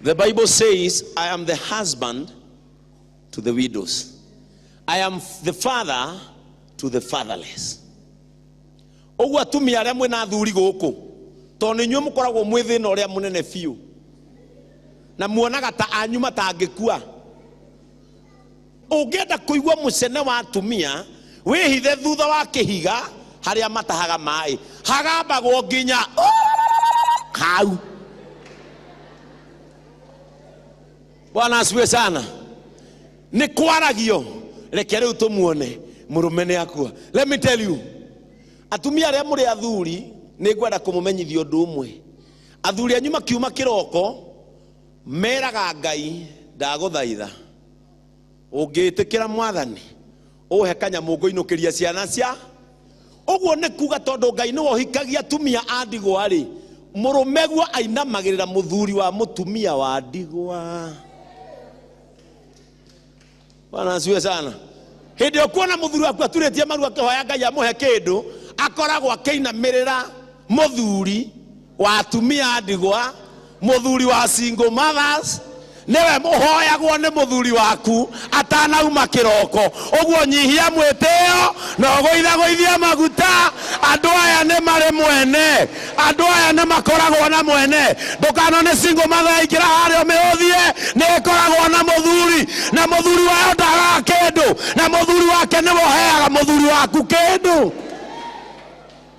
The Bible says, I am the husband to the widows, I am the father to the fatherless. Ũguo atumia arĩa mwĩna athuri gũkũ tondũ nĩ inyuĩ mũkoragwo mwĩ thĩna ũrĩa mũnene biũ na muonaga ta anyu matangĩkua ũngĩenda kũigua mũcene wa atumia wĩhithe thutha wa kĩhiga harĩa matahaga maĩ hagambagwo nginya hau bwana asiwe sana nĩ kwaragio reke rĩu tũmuone mũrũme nĩ akua let me tell you atumia arĩa mũrĩ athuri nĩ ngwenda kũmũmenyithia ũndũ ũmwe athuri anyu makiuma kĩroko meraga ngai ndagũthaitha ũngĩĩtĩkĩra mwathani ũhe kanyamũ ngũinũkĩrie ciana cia ũguo nĩ kuga tondũ ngai nĩwe ũhikagia atumia a ndigwa rĩ mũrũmeguo ainamagĩrĩra mũthuri wa mũtumia wa ndigwa bwana asiwe sana hĩndĩ ĩyo kuona mũthuri waku aturĩtie maru akĩhoya ngai amũhe kĩndũ akoragwo akĩinamĩrĩra mũthuri wa atumia a ndigwa mũthuri wa single mothers nĩwe mũhoyagwo nĩ mũthuri waku atanauma kĩroko ũguo nyihia mwĩtĩo na ũgũithagũithia maguta andũ aya nĩ marĩ mwene andũ aya nĩ makoragwo na mwene ndũkano nĩ single mother yaingĩra harĩa ũmĩhũthie nĩ ĩkoragwo na mũthuri na mũthuri wayo ndagaga kĩndũ na mũthuri wake nĩwe ũheaga mũthuri waku kĩndũ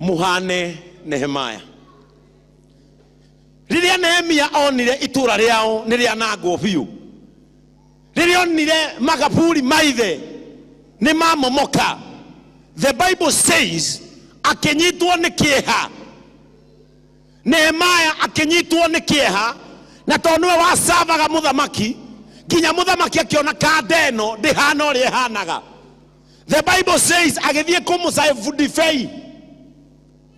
mũhane nehemaya rĩrĩa nehemia onire itũra rĩao nĩ rĩanangwo biũ rĩrĩa onire makaburi maithe nĩ mamomoka the bible says akĩnyitwo nĩ kĩeha nehemaya akĩnyitwo nĩ kĩeha na tondũ nĩwe wacavaga mũthamaki nginya mũthamaki akĩona kanda ĩno ndĩhana ũrĩa ĩhanaga the bible says agĩthiĩ kũmũcabu ndibei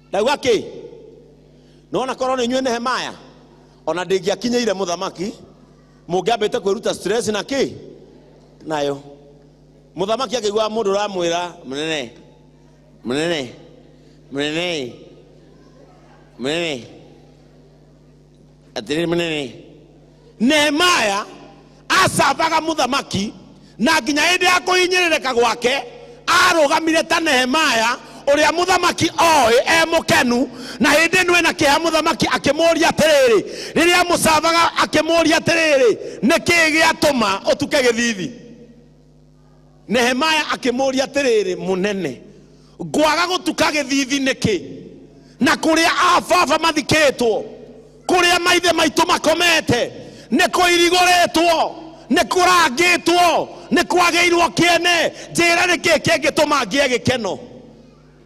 ndaigua kĩ nona korwo nĩ inyuĩ nehemaya ona ndĩngĩakinyĩire mũthamaki mũngĩambĩte kwĩruta stress na kĩ nayo mũthamaki akĩiguaga mũndũ ũramwĩra mũnene mũnene mũnene mũnene atĩrĩ mũnene nehemaya acambaga mũthamaki na nginya hĩndĩ ya kũhinyĩrĩrĩka gwake arũgamire ta nehemaya ũrĩa mũthamaki oĩ e mũkenu na hĩndĩ ĩno ena kĩeha mũthamaki akĩmũũria atĩrĩrĩ rĩrĩa mũcambaga akĩmũũria atĩrĩrĩ nĩ kĩĩ gĩatũma ũtuke gĩthithi Nehemaya akĩmũũria atĩrĩrĩ, Mũnene, ngwaga gũtuka gĩthiithi nĩkĩ? Na kũrĩa ababa mathikĩtwo, kũrĩa maithe maitũ makomete, nĩ kũirigũrĩtwo, nĩ kũrangĩtwo, nĩ kwagĩirwo kĩene. Njĩĩra nĩ kĩĩ kĩngĩtũma ngĩe gĩkeno?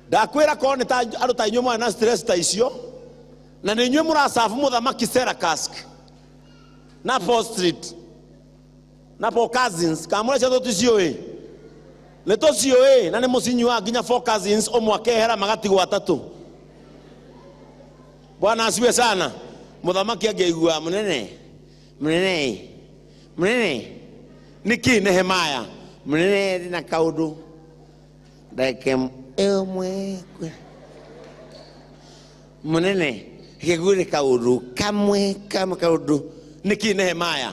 Ndakwĩra korwo nĩ ta andũ ta inyuĩ mwarĩ na stress ta icio, na nĩ inyuĩ mũracabu mũthamaki Serakask na Paul Street. na four cousins kamũrecia thũti ciũĩ nĩ tũciũĩ na nĩ mũcinyuaga nginya four cousins ũmwe akehera magatigwo atatũ bwana asiwe sana mũthamaki angĩaigua mũnene mũnene mũnene nĩkĩ nehemaya mũnene ndĩ na kaũndũ ndeke ĩmwe kwe mũnene gĩguĩ nĩ kaũndũ kamwe kamwe kaũndũ nĩkĩ nehemaya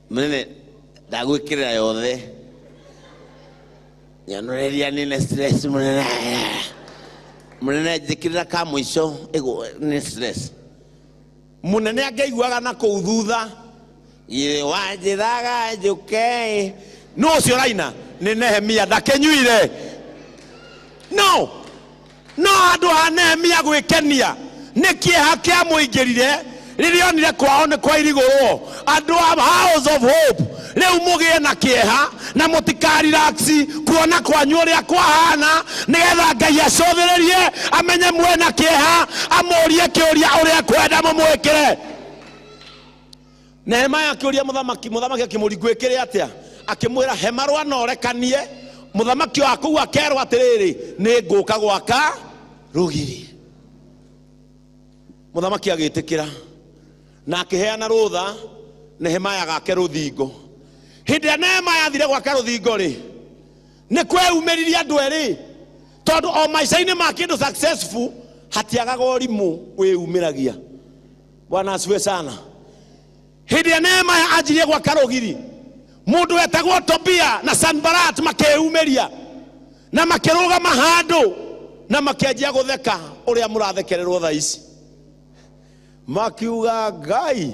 Mũnene, ndagwĩkĩrĩra yothe. Nyonoreria nĩne stress mũnene. Mũnene njĩkĩrĩra ka mũico ĩgũ nĩ stress. Mũnene angĩiguaga na kũu thutha. Githĩ wanjĩraga njũke ĩ. Nũ ũcio ũraina? Nĩ Nehemia ndakĩnyuire. No! No handũ ha Nehemia gwĩkenia nĩ kĩeha kĩamũingĩrire rĩrĩa onire kwao nĩ kwairigũrwo, andũ a House of Hope, rĩu mũgĩe na kĩeha na mũtikarelax kuona kwanyu ũrĩa kwahana, nĩgetha Ngai acũthĩrĩrie amenye mwĩna kĩeha, amũrie kĩũria ũrĩa ekwenda mũmwĩkĩre. Nehemaya akĩũria mũthamaki, mũthamaki akĩmũringwĩkĩre atĩa? Akĩmwĩra, he marũa na ũrekanie. Mũthamaki wa kũu akerwo atĩrĩrĩ, nĩ ngũka gwaka rũgiri. Mũthamaki agĩtĩkĩra na akĩheana rũtha Nehemaya gake rũthingo. Hĩndĩ ĩrĩa Nehemaya athire gwaka rũthingo-rĩ, nĩ kweyumĩririe andũ erĩ, tondũ o maica-inĩ ma kĩndũ successful hatiagaga ũrimũ wĩyumĩragia. bwana asifiwe sana hĩndĩ ĩrĩa neema anjirie gwaka rũgiri mũndũ wetagwo tobia na sanbarat makeyumĩria na makĩrũgama handũ na makĩanjia gũtheka ũrĩa mũrathekererwo tha ici makiuga ngai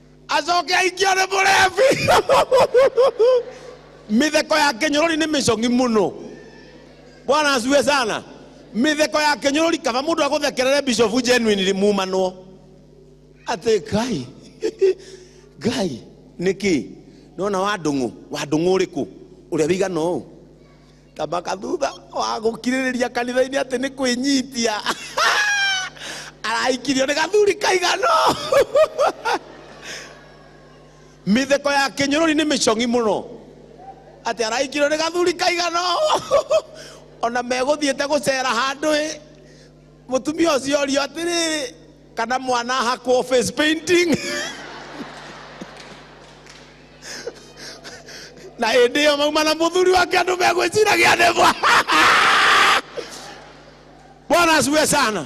acoke aikio nĩ mũrebi mĩtheko ya kĩnyũrũri nĩ mĩcong'i mũno bwana acue sana mĩtheko ya kĩnyũrũri kaba mũndũ agũthekerere bishofu genuinely mumanwo atĩ ngai ngai nĩkĩ nona wandũng'ũ wandũng'ũ ũrĩkũ ũrĩa wĩigana ũũ Thamaka thutha wa gũkirĩrĩria kanitha-inĩ atĩ nĩ kwĩnyitia arahikirio nĩ gathuri kaigano mĩtheko ya kĩnyũrũri nĩ mĩcong'i mũno atĩ arahikirio nĩ gathuri kaigano ona megũthiĩte gũcera handũ ĩ mũtumia ũcio orio atĩrĩrĩ kana mwana ahakwo face painting na hĩndĩ ĩyo mauma na mũthuri wake andũ megwĩciragia nĩ mwa bwana asiwe sana